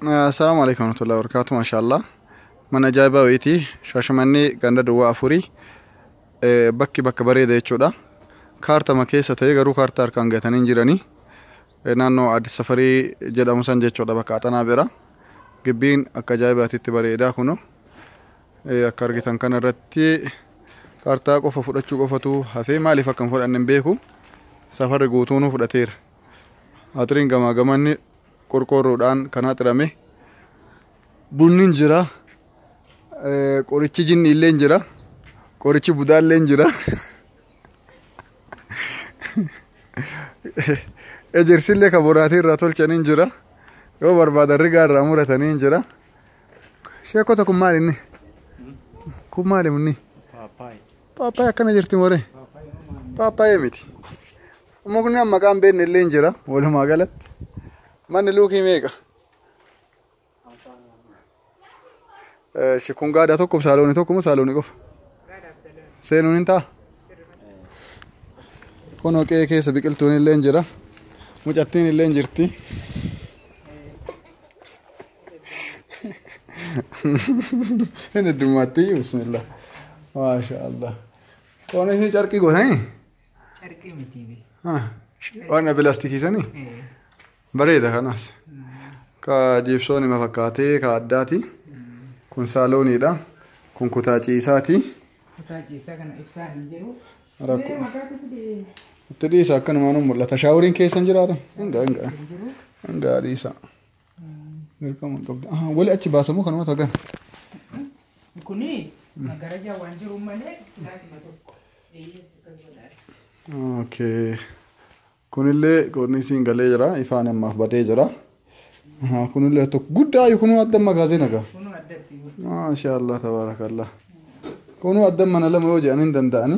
Assalaamu alaikum warahmatullahi wabarakatuh mashallah mana ajaa'ibaa wayiiti shaashamannee ganda duwwaa afurii Eh, bakki bakka bareeda jechuudha kaartama keessa ta'ee garuu kaartaa harkaan gatanii hin jiranii Eh, naannoo addis safarii jedhamu san jechuudha bakka axanaa bira gibbiin akka ajaa'ibaatitti bareedaa kuno Eh, akka argitan kana irratti kaartaa qofa fudhachuu qofatu hafee maaliif akka hin fudhanne hin beeku safarri guutuunuu fudhateera Haxiriin gamaa gamanni qorqoorroodhaan kan haxirame bunni hin jira eh, qorichi jinni illee hin jira qorichi budaa illee hin jira ejersi illee kan boraatii irraa tolchanii hin jira yoo barbaadan rigaa irraa muratanii hin jira sheekota kun maali inni kun maali inni Paappaayee. paappaayee akkana jirti moree paappaayee miti Mukni an maqaan beekne illee hin jira walumaa galatti. Manni luukii meeqa? Eh, shi- Kun gaadaa tokko saalooni tokko moo saalooni qofa? Seenuun hin ta'a? Kun hoqee keessa biqiltuun illee hin jira. Mucattiin illee hin jirti. Hin heddummaatti bismillah. Maasha Allah. Qoonis ni carqii gootanii? Carqii mitii bee. Ah, Waan abbe laastikii sanii Eh, bareeda kanas. mm, Ka jiibsoon ima fakkaatee ka addaati. mm. Kun saalooniidha. Kun kutaa ciisaati. Kutaa ciisaa kana ibsaan hin jiru. Rakko. Mee maqaa kutu dee. Itti dhiisa akkanumaan hin mul'ata. Shaaworiin keessa hin jiraata. Hingaa hingaa. Hin jiru. Hingaa dhiisa. Dirqama hin qabdu. Aha, Wali achi baasamoo kanuma tagan. Kuni magarajaa waan jiru malee laasima tokko. Eeyyee akkas godhaa. Okay. Kunillee koorniisiin galee jira. Ifaan ammaaf badee jira. Aha, Kunillee tokko guddaa ayu kunuu adda magaazee nagaa. Kunoo addatti yoo Maashaallah tabaarakallah. Kunuu adda mana lama yoo jedhan hin danda'ani.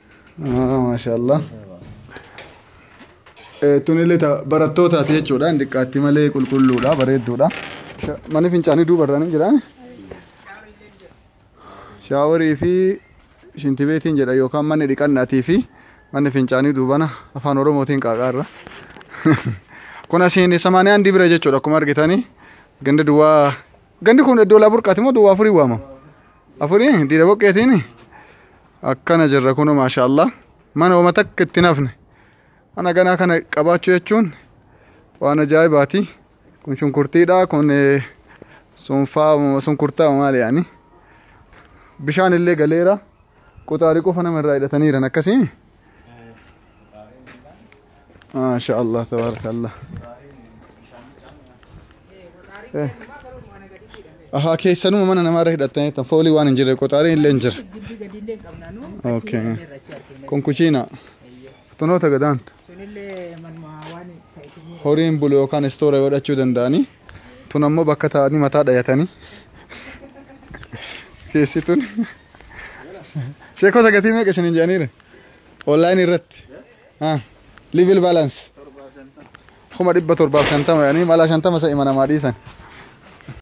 Ah, maashaallah. Eh, Tun illee ta barattootaati jechuudha. Hin Xiqqaatti malee qulqulluudha, bareedduudha. Sha- Manni fincaanii duuba irraan hin jira. Shaaworii fi shinti beetiin jedha yookaan manni dhiqannaatii fi manni fincaanii duubana afaan Oromootiin qaaqaarra. kun asiin samaanii handi bira jechuudha akkuma argitanii ganda duwwaa gandi kun iddoo laa burqaati moo duwwaa afurii waamama afurii diida boqqeetiin akkana jirra kuno maasha allah mana homa takka itti nafne mana ganaa kana qabaachuu jechuun waan ajaa'ibaati kun shunkurtiidha kun sunfaa sunkurtaa maali yaani bishaan illee galeera quxaarii qofa nama irraa hidhataniiran akkasii Maashaallah tabarakallah. Ahaa keessanuma mana namaarra hidhattanii tan foolii waan hin jirre qoxaariin illee hin jira. Gibbi gadi illee hin qabna nu. Okay. Kun kuchiina. Tunoota gadaantu. Sunillee manuma waan ta'eef horiin bulu yookaan istoora godhachuu danda'anii tun ammoo bakka taa'anii mataa dhayatanii keessi tun sheekota gatii meeqa isiniin jedhaniire onlaayinii irratti Ah, level balance. Kuma dhibba torbaaf shantama yaani mala shantama sa'i mana maa dhiisan.